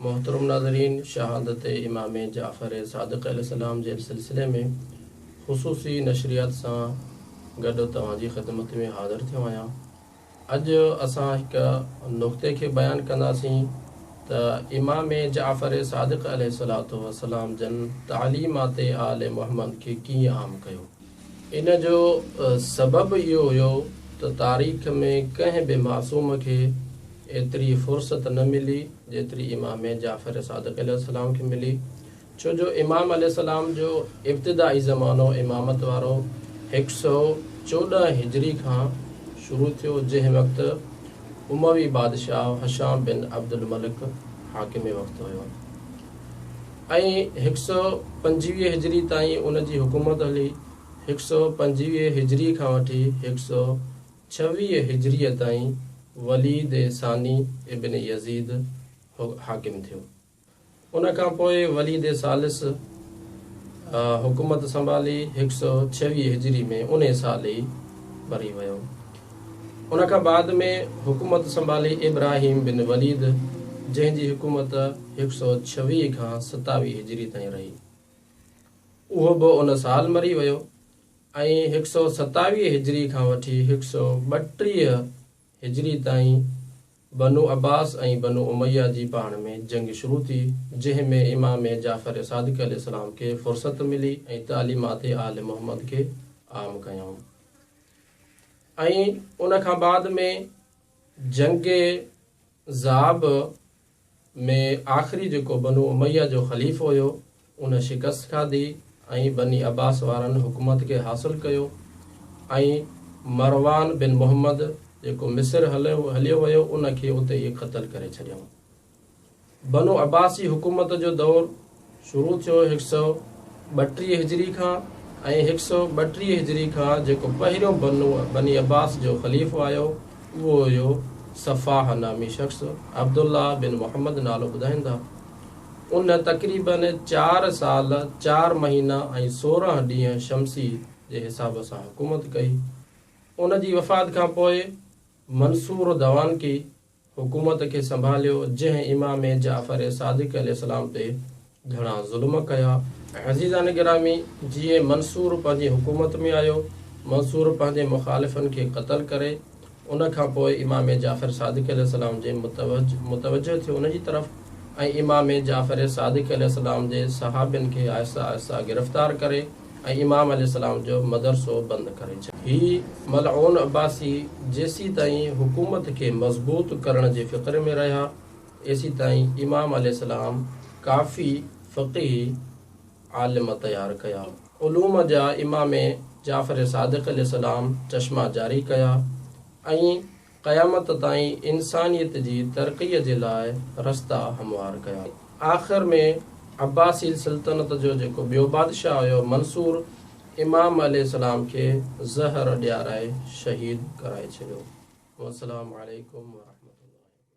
محترم ناظرين شهادت امام جعفر صادق عليه السلام جي سلسلي ۾ خصوصي نشريات سان گڏ توهان جي خدمت ۾ حاضر ٿيو آهيان اڄ اسان هڪ نقطي کي بيان ڪنداسين ته امام جعفر صادق عليه الصلوة والسلام جن تعليمات آل محمد کي ڪيئن عام ڪيو ان جو سبب اهو هيو ته تاريخ ۾ ڪنهن به معصوم کي ايتري فرصت نه ملي جيتري امام جعفر صادق عليه السلام کي ملي ڇو جو امام عليه السلام جو ابتدائي زمانو امامت وارو هڪ سؤ چوڏهن هجري کان شروع ٿيو جنهن وقت اموي بادشاهه هشام بن عبدالملڪ حاڪم وقت هيو. ۽ هڪ سؤ پنجويهه هجري تائين ان جي حڪومت هلي. هڪ سؤ پنجويهه هجري کان وٺي هڪ سؤ ڇويهه هجريء تائين وليد ثاني ابن يزيد حاڪم ٿيو. ان کان پوء وليد ثالث حڪومت سنڀالي هڪ سؤ ڇويهه هجري ۾ انهي سال ئي مري ويو. ان کان بعد ۾ حڪومت سنڀالي ابراهيم بن وليد جنهن جي حڪومت هڪ سؤ ڇويهه کان ستاويهه هجري تائين رهي. اهو به ان سال مري ويو ۽ هڪ سؤ ستاويهه هجري کان وٺي هڪ سؤ ٻٽيهه هجري تائين بنو عباس ۽ بنو اميه جي پاڻ ۾ جنگ شروع ٿي جنهن ۾ امام جعفر صادق عليه السلام کي فرصت ملي ۽ تعليمات آل محمد کي عام ڪيائون. ۽ ان کان بعد ۾ جنگ ذاب ۾ آخري جيڪو بنو اميه جو خليفو هيو ان شڪست کاڌي ۽ بني عباس وارن حڪومت کي حاصل ڪيو ۽ مروان بن محمد جيڪو مصر هليو ويو ان کي اتي ئي قتل ڪري ڇڏيائون. بنو عباسي حڪومت جو دور شروع ٿيو هڪ سؤ ٻٽيهه هجري کان ۽ هڪ سؤ ٻٽيهه هجري کان جيڪو پهريون بنو بني عباس جو خليفو آيو اهو هيو صفاح نامي شخص عبدالله بن محمد نالو ٻڌائيندا ان تقريباً چار سال چار مهينا ۽ سورهن ڏينهن شمسي جي حساب سان حڪومت ڪئي ان جي وفات کان پوء منصور دوانڪي حڪومت کي سنڀاليو جنهن امام جعفر صادق عليه السلام تي گهڻا ظلم ڪيا. عزيزان گرامي! جيئن منصور پنهنجي حڪومت ۾ آيو، منصور پنهنجي مخالفن کي قتل ڪري، ان کان پوء امام جعفر صادق عليه السلام جي متوجهه ٿيو ان جي طرف ۽ امام جعفر صادق عليه السلام جي صحابين کي آهستي آهستي گرفتار ڪري، ۽ امام عليه السلام جو مدرسو بند ڪري ڇڏيو. هي ملعون عباسي جيسيتائين حڪومت کي مضبوط ڪرڻ جي فڪر ۾ رهيا، ايسيتائين امام عليه السلام ڪافي فقيهي عالم تيار ڪيا. علوم جا امام جعفر صادق عليه السلام چشما جاري ڪيا ۽ قيامت تائين انسانيت جي ترقيء جي لاء رستا هموار ڪيا. آخر ۾ عباسي سلطنت جو جيڪو ٻيو بادشاهه هيو منصور امام عليه السلام کي زهر ڏيارائي شهيد ڪرائي ڇڏيو. والسلام عليڪم ورحمة الله وبرڪاته.